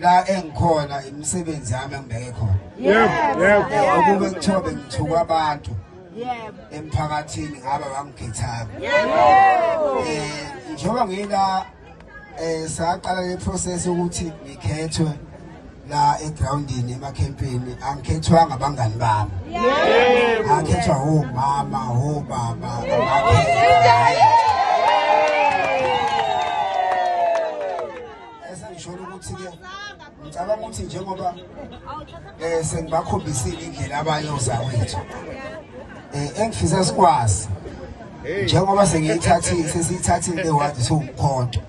la engikhona imisebenzi yami engibeke khona yebo yebo ukube kuthiwa bengithuka abantu yebo emphakathini ngaba bangikhethayo yebo eh njengoba ngila eh saqala le process ukuthi ngikhethwe la egroundini emakhempini angikhethwanga abangani bami yebo akhethwa ho mama ho baba abakhethwa esengisholo ukuthi-ke ngicabanga ukuthi njengoba um sengibakhombisile indlela abayoza wethu um engifisa sikwazi njengoba sengiyithathile sesiyithathile lewazi siwumkhonto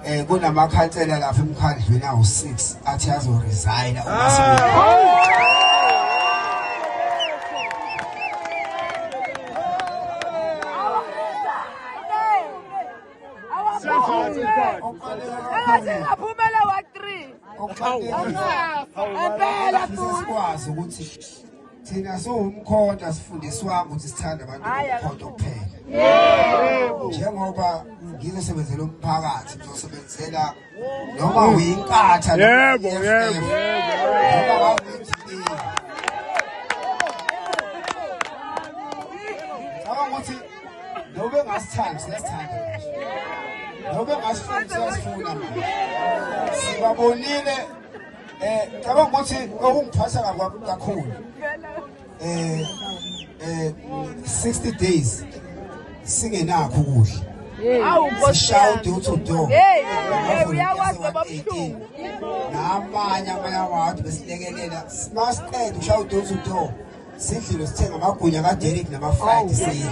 um kunamakhansela lapha emkhandlwini awu-six athi azoresayina uma engasingaphumela wa-three empela sikwazi ukuthi thina siwumkhonto asifundiswanga ukuthi sithanda abantu bomkhonto kuphela njengoba ngizosebenzela umphakathi ngizosebenzela noma uyinkatha yebo yebo ukuthi nobe ngasithandi siyasithanda nobe ngasifuni siyasifuna manje sibabonile um ngicabanga ukuthi okungiphatha kakhulu eh eh 60 days singenakho ukudla sishaye uduthi udo namanye amanye awawadi besilekelela masiqeda ushaya uduthi udo sidlile sithenga amagunya kaderik namafraydi siyidla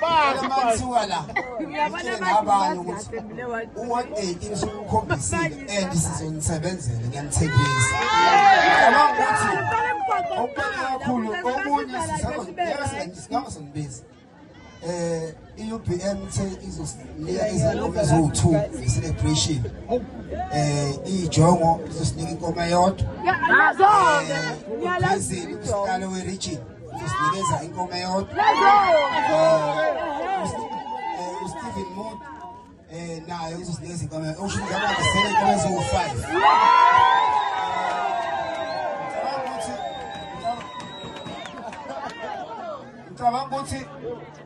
Bazi mansuka la. Ngiyabona abantu ukuthi uwodate usukukhombisile and sizonisebenzela ngiyanithembisa. Ngiyabona ukuthi okukhulu kakhulu okunye sisaba singabizi. eh i-UBM ithe izosinika izingoma eziwu-2 nge-celebration eh iyijongo izosinika inkoma yodwa ngiyalazi eh, uphezulu usihlalo we-region Sinikeza inkome yodwa. uSteven Mood eh naye uzosinikeza inkome. Usho ukuthi abantu sele inkome eziwu-5. Ngicabanga ukuthi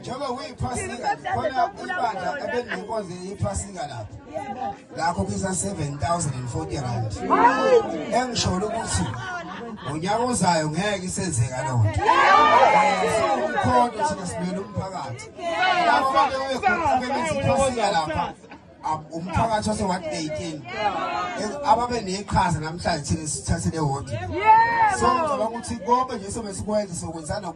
njengoba kuyiphasika khona ibandla ebelinenkonzo yephasika lapho lakho kisa 7040 rand engisholo ukuthi ngonyaka ozayo ngeke isenzeka loo nto ukhona thina simele umphakathi labo bantu bebekhona bebenziphasika lapha umphakathi wase ward 18 ababe neqhaza namhlanje thina sithathele ward so ngicabanga ukuthi konke nje sobe sikwenza sokwenzana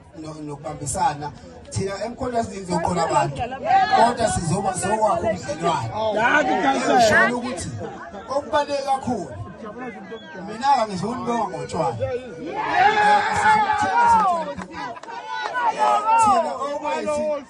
nokubambisana thina emkhonto esiningi zoqola abantu kodwa sizoba sokwakho ubudlelwane ngisholo ukuthi okubaluleke kakhulu mina-ke ngizonibonga ngotshwala thina okwethu